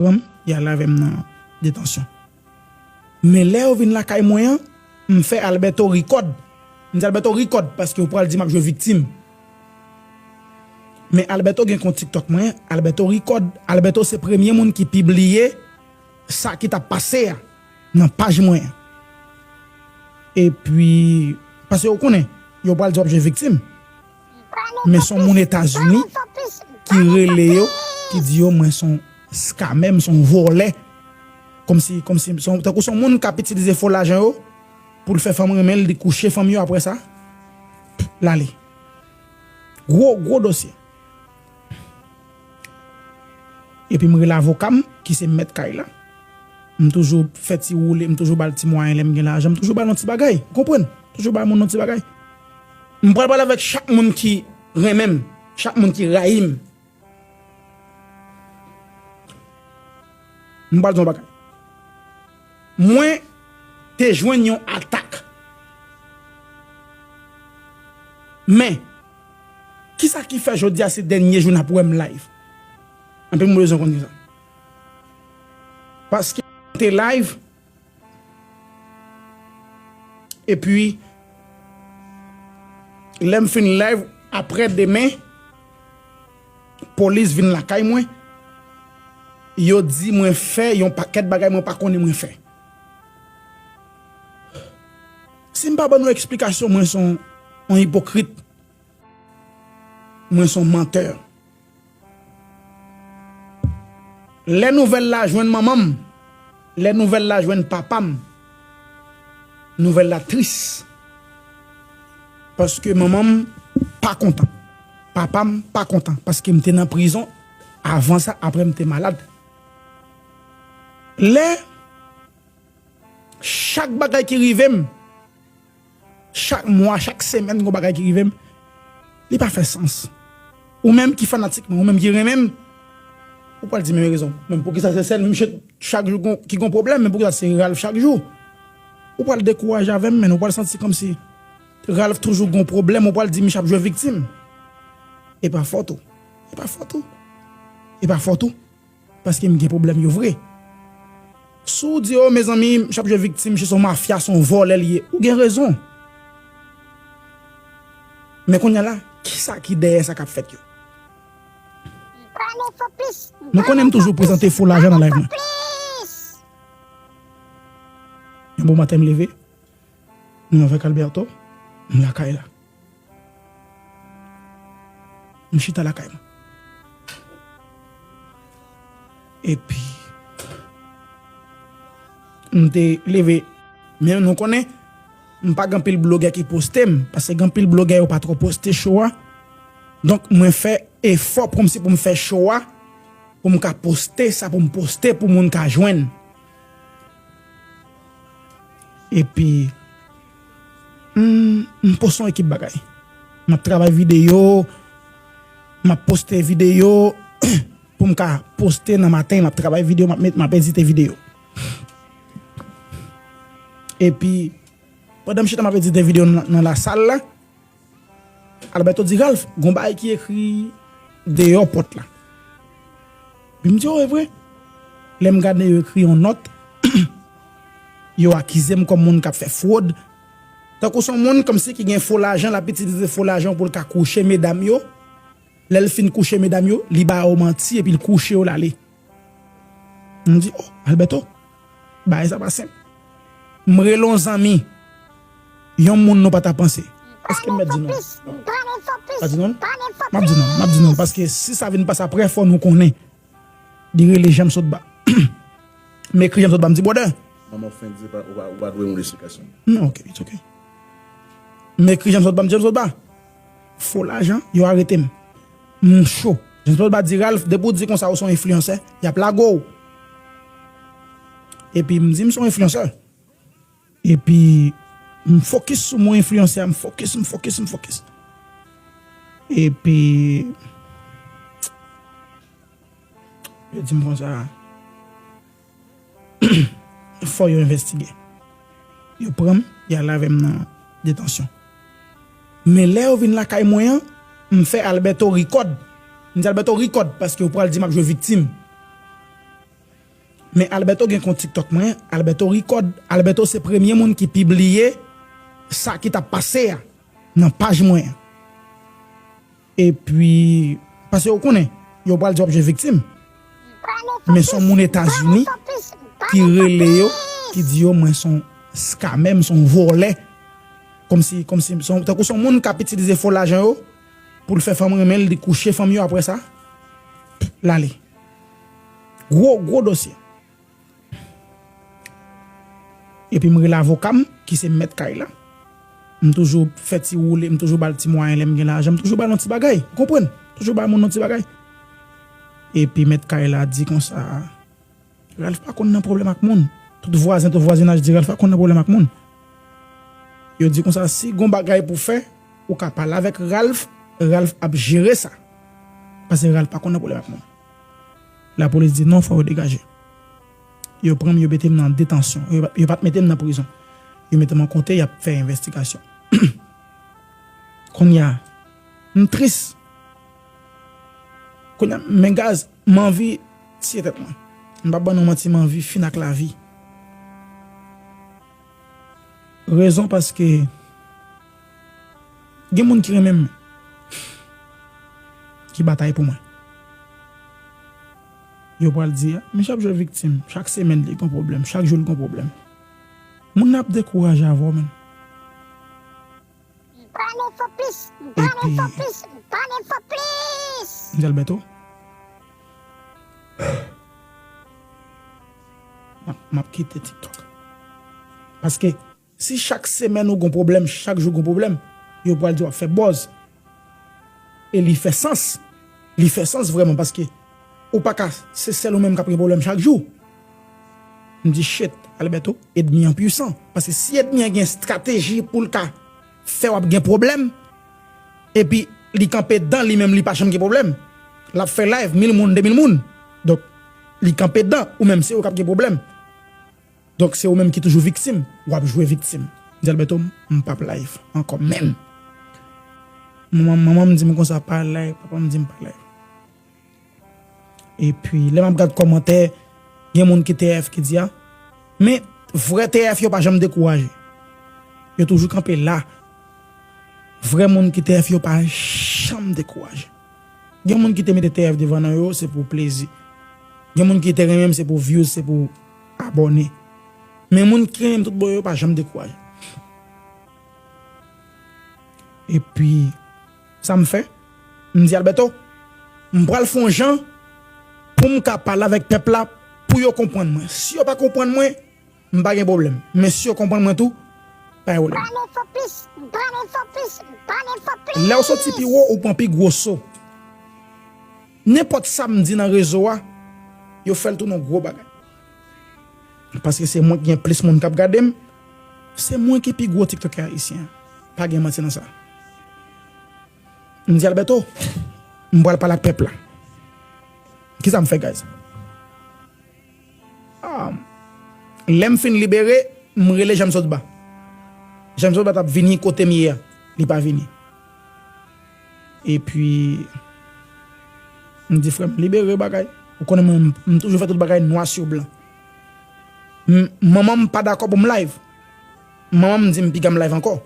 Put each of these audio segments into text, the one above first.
pran m, y al avè m nan detansyon. Men lè yo vin lakay mwen an, m fè Alberto ri kòd. M di Alberto ri kòd paske ou pral di m ap jwe viktim. Men Alberto gen kont TikTok mwen, Alberto ri kòd. Alberto se premye moun ki pibliye sa ki t ap pase a nan paj mwen an. Epi, paske yo konnen, yo pral di w ap jwe viktim. Men son moun etazini ki rele yo ki di yo mwen son scamè m son vòlè komsi komsi tankou son moun kap itilize fo lajan yo poul fè fanm renmen l li kouche fanm yo aprè sa lale gwo gwo dosye epim rele avokam ki se mèt kay la m toujou fè ti woule m toujou bal ti mwayen lèm gen lajan m toujou bal yon ti bagay ou konprann toujou bay moun yon ti bagay. M pral pale avèk chak moun ki renmen m, chak moun ki rayi m. M pral di w yon bagay. Mwen te jwenn yon atak. Men, kisa ki fè jodi a se dènye jou n ap wè m live? Anpil moun bezwen konnen sa. Paske m te live. Epi lèm fin live aprè demen polis vin lakay mwen yo di mwen fè yon pakèt bagay mwen pa konnen mwen fè. Sim pa ban nou eksplikasyon mwen son yon ipokrit mwen son menteur. Lè nouvèl la jwenn manman m, lè nouvèl la jwenn papa m, nouvèl la tris. Paske manman m pa kontan, papa m pa kontan paske m te nan prizon avan sa aprè m te malad. Lè chak bagay ki rive m. Chak mwa, chak semèn gon bagay ki rive m, li pa fè sans. Ou menm ki fanatik mwen, ou menm ki renmen m, ou pral di men rezon. Men poukisa se sèl misye chak jou ki gon pwoblèm, men poukisa se Ralph chak jou? Ou pral dekouraje avè m menn, ou pral santi kòmsi Ralph toujou gon pwoblèm, ou pral di misye ap jwe viktim. E pa fòt ou, e pa fòt ou, e pa fòt ou. Paskem gen problem yo vre. Sou w di yo mezanmi misye ap jwe viktim misye son mafya son vòlè li ye ou gen rezon men kounya la kisa ki dèyè sa kap fèt yo nou konnen m toujou prezante fo lajan nan live mwen yon bon maten m leve m avèk Alberto m lakay la. M chita lakay m. Epi m te leve. Men nou konnen m pa gen anpil blogè ki poste m, paske gen anpil blogè yo pa twò poste show a. Donk mwen fè efò kòm si pou m fè show a, pou m ka poste sa pou m poste pou moun ka jwenn. Epi M post yon ekip bagay. M ap travay videyo, m ap poste videyo pou m ka poste nan maten, m ap travay videyo, m ap edite videyo. Epi, pandan m chita m ap edite videyo nan lasal la. Alberto di Ralph, gon bagay ki ekri deyò pòt la. Li m di, oh e vre. Lè m gade yo ekri yon nòt, yo akize m kòm moun k ap fè fwod, tankou son moun kòmsi ki gen fo lajan l ap itilize fo lajan pou l ka kouche medam yo, lè l fin kouche medam yo, li ba yo manti epi l kouche yo l ale. M di, oh Alberto, bagay sa pa senp. M rele yon zanmi, yon moun nou pa ta panse. Eske m mèt di non? M pa di non? M ap di non, m ap di non, paske si sa vin pase aprè fò nou konnen. Li rele Janmsotba. M ekri Janmsotba, m di brother. Mwen mwen fenk di ou pa dwe yon esplikasyon. Non, ok, it's ok. M ekri Janmsotba, m di Janmsotba. Fo lajan, yo arete m. M cho. James Paul Bat di Ralph, depi w di konsa ou se yon enfliyansè, y ap lage w. Epi m di m se yon enfliyansè. Epi m fokis sou mo enfliyansè a, m fokis, m fokis, m fokis. Epi yo di m konsa, Fò yo envestige. Yo pran m, y al avè m nan detansyon. Men lè yo vin lakay mwen an, m fè Alberto rikòd. M di Alberto rikòd paske yo pral di m ap jwe viktim. Men Alberto gen kont tiktok mwen, Alberto rikòd. Alberto se premye moun ki pibliye sa ki t ap pase a nan paj mwen an. Epi, paske yo konnen, yo pral di wap jwe viktim. Men son moun Etazini ki rele yo, ki di yo mwen son scammer, m son vòlè. Komsi, komsi, tankou son moun kap itilize fo lajan yo, poul fè fanm renmen l, li kouche fanm yo aprè sa, lale. Gwo, gwo dosye. Epi m rele avoka m ki se mèt kay la. M toujou fè ti woule, m toujou ba l ti mwayen lè m gen lajan, m toujou ba l yon ti bagay. Ou konprann? M toujou ba moun yon ti bagay. Epi mèt kay la di konsa, Ralph pa konn nan pwoblèm ak moun. Tout vwazen, tout vwazinaj di Ralph pa konn nan pwoblèm ak moun. Yo di konsa, si gen yon bagay pou w fè, ou ka pale avèk Ralph, Ralph ap jere sa. Pase Ralph pa konn nan pwoblèm ak moun. La polis di non fò yo degaje. Yo pran m yo mete m nan detansyon. Yo pat mete m nan prizon. Yo mete m an kote y ap fè envestigasyon. Kounye a m tris. Kounye a men gaz m anvi tiye tèt mwen. M pap ban nou manti m anvi fin ak lavi. Rezon paske. Gen moun ki renmen m. Ki batay pou mwen. Yo pral di, Misye ap jwe viktim. Chak semèn li gen yon pwoblèm. Chak jou li gen yon pwoblèm. Moun nan ap dekouraje avè w menn. Bane fò plis! Bane fò plis! Bane fò plis! Msye Alberto? M ap kite TikTok. Paske. Si chak semèn ou gon pwoblèm chak jou gon pwoblèm yo pwal di wap fè bòz e li fè sans li fè sans vrèman paske ou paka se sèl ou menm kap gen pwoblèm chak jou m di chet Alberto edmi an pwisan paske si edmi an gen strateji poul ka fè wap gen pwoblèm epi li kanpe dan li menm li pa janm gen pwoblèm lap fè live mil moun de mil moun donk li kanpe dan ou menm se ou kap gen pwoblèm. Donk se ou menm ki toujou viktim, wap jwe viktim. Mzelberto m pap live ankò menm. Manman m di m konsa pa live, papa m di m pa live. Epi lè map gad kòmantè gen moun ki TF ki di a, men vrè TF yo pa janm dekouraje. Yo toujou kanpe la. Vrè moun ki TF yo pa janm dekouraje. Gen moun ki te mete TF devan non yo se pou plezi. Gen moun ki te renmen m se pou views se pou. Abòne. Men moun ki renmenm tout bon yo pa janm dekouraje. Epi sa m fè? M di Alberto, m pral fè yon jan pou m ka pale avèk pèp la pou yo konprann mwen. Si yo pa konprann mwen, m pa gen pwoblèm. Men si yo konprann mwen tou, pa gen pwoblèm. Ban enfo plis, ban enfo plis, ban enfo plis! Lè w soti pi wo, ou pran pi gwo so. Nenpòt sa m di nan rezo a, yo fè l tounen yon gwo bagay. Paske se mwen ki gen plis moun k ap gade m, se mwen ki pi gwo tiktokè ayisyen an. Pa gen manti nan sa. M di Alberto, m pral pale ak pèp la. Kisa m fè guys? Lè m fin libere, m rele Janmsotba. Janmsotba t ap vini kote m ye a, li pa vini. Epi, m di frè m libere bagay. Ou konnen mwen, m toujou fè tout bagay nwa sou blan. Manman m pa dakò pou m live. Manman m di m piga m live ankò.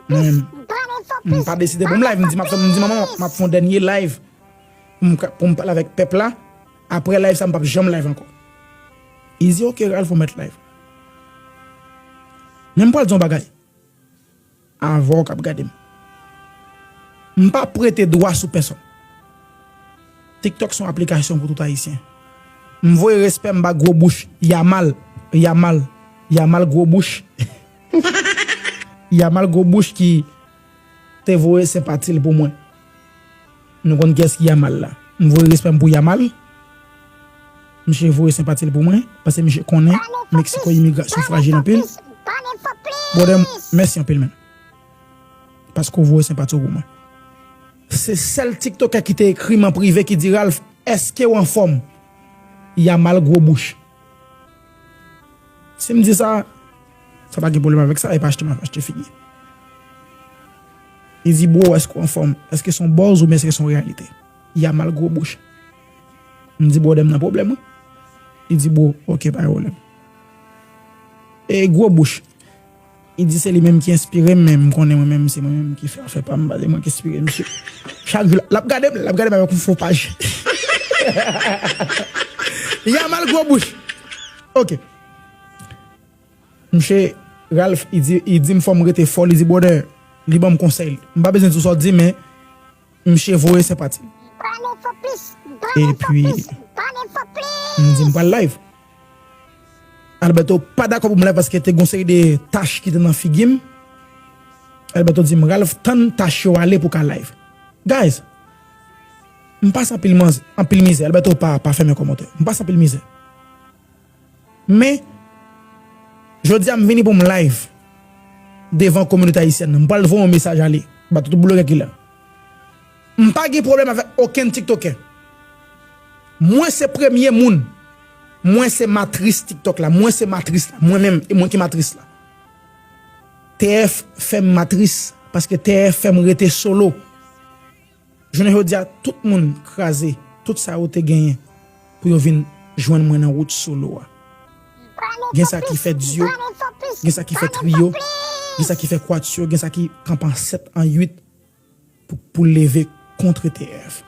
M pa deside pou m live. M di manman m ap fè yon dènye live. poum pale avèk pèp la aprè live sa m pap janm live ankò izi ok ralph ou mèt live men m pral di yon bagay avèw kap gadem m pa prete dwa sou pèsòn tiktok son aplikasyon pou tout ayisyen m voye respè m ba gwo bouch yamal yamal yamal gwo bouch yamal gwo bouch ki te voye senpati l pou mwen. Nou konn kiyès ki Yamal la. M voye respè m pou Yamal. Misye voye senpati l pou mwen, pase misye konnen Meksiko imigrasyon frajil anpil. Brother m, mèsi anpil man. Paske w voye senpati w pou mwen. Se sèl tiktokè ki te ekri m an prive ki di Ralph, eske w anfòm? Yamal gwo bouch. Si m di sa. Sa pa gen pwoblèm avèk sa, e pa achte map achte figi. Izi bro èske ou anfòm? Èske son bòz oubyen èske son reyalite? Yamal gwo bouch. M di bwòdè m nan pwoblèm wi. Li di bro, ok pa gen pwoblèm. E gwo bouch. Li di se li menm ki enspire m men m konnen mwen menm se mwen menm ki fè afè pa m pa se mwen ki enspire misye. Chak jou lap gade m, lap gade m avèk yon fo paj. Yamal gwo bouch. Ok. Mnche Ralph li di li dim fòm rete fò li di brother li banm konsèy m pa bezwen di w sa w dim men mnche voye senpati l epi m di m pral live Alberto pa dakò pou m live paske te gon seri de tach ki te nan figi m Alberto dim Ralph tann tach yo ale pou w ka live guys m pase anpil mizè Alberto pa fèmen kòmantè m pase anpil mizè. Men, jodi a m vini pou m live devan kominote ayisyèn nan. M pral voye yon mesaj ale ba tout blogè ki la. M pa gen pwoblèm avèk okenn tiktokè. Mwen se premye moun, mwen se matris tiktok la, mwen se matris la, mwen menm, e mwen ki matris la. TF fè m matris paske TF fè m rete solo. Jounen jodi a tout moun kraze tout sa yo te genyen pou yo vin jwenn mwen nan wout solo a. Gen sa ki fè duo, gen sa ki fè trio, gen sa ki fè quatuor, gen sa ki kanpe an 7, an 8 pou leve kontre TF.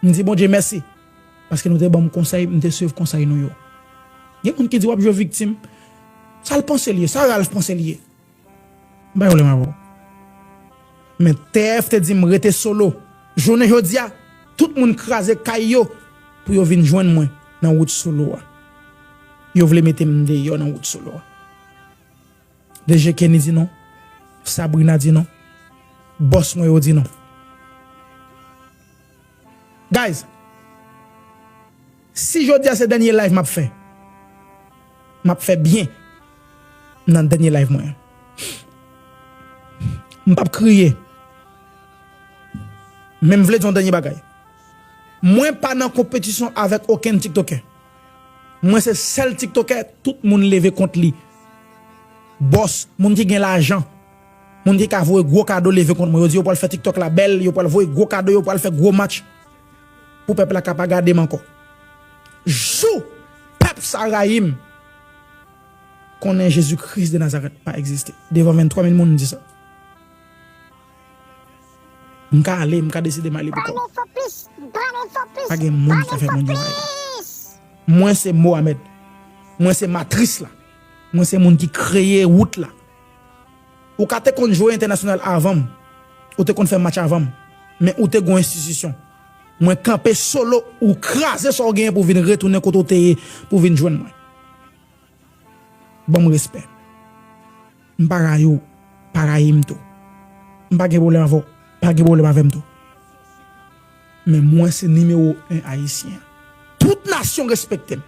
M di Bondye mèsi paske nou te banm konsèy m te swiv konsèy nou yo. Gen moun ki di wap jwe viktim, sa l panse l ye, sa Ralph panse l ye? M pa yon lèm avè w. Men TF te di m rete solo. Jounen jodi a, tout moun kraze kay yo pou yo vin jwenn mwen nan wout solo a. Yo vle mete m deyò nan wout solo a. DG Kenny di non. Sabrina di non. Bòs mwen yo di non. Guys! Si jodia se dènye live map fè map fè byen nan dènye live mwen an m pap kriye men m vle di yon dènye bagay mwen pa nan konpetisyon avèk okenn tiktokè mwen se sèl tiktokè tout moun leve kont li bòs moun ki gen lajan moun ki ka voye gwo kado leve kont mwen yo di yo pwal fè tiktok la bèl yo pwal voye gwo kado yo pwal fè gwo match. Pou pèp la ka pa gade m ankò. Jou pèp sa rayi m, konnen Jezi Kris de Nazarèt pa egziste. Devan 23 mil moun m di sa. M ka ale, m ka deside m ale pou kò m. Pa gen moun ki ka fè mwen di anyen. Mwen se Mohamed. Mwen se matris la. Mwen se moun ki kreye wout la. Ou ka te konn jwe entènasyonal avanm, ou te konn fè match avanm, men ou te gon enstitisyon. Mwen kanpe solo ou kraze sa w genyen pou vin retounen kote w te ye pou vin jwenn mwen. Banm respè. M pa rayi w, pa rayi m tou. M pa gen pwoblèm avè w, pa gen pwoblèm avè m tou. Men mwen se nimewo 1 ayisyen. Tout nasyon respekte m.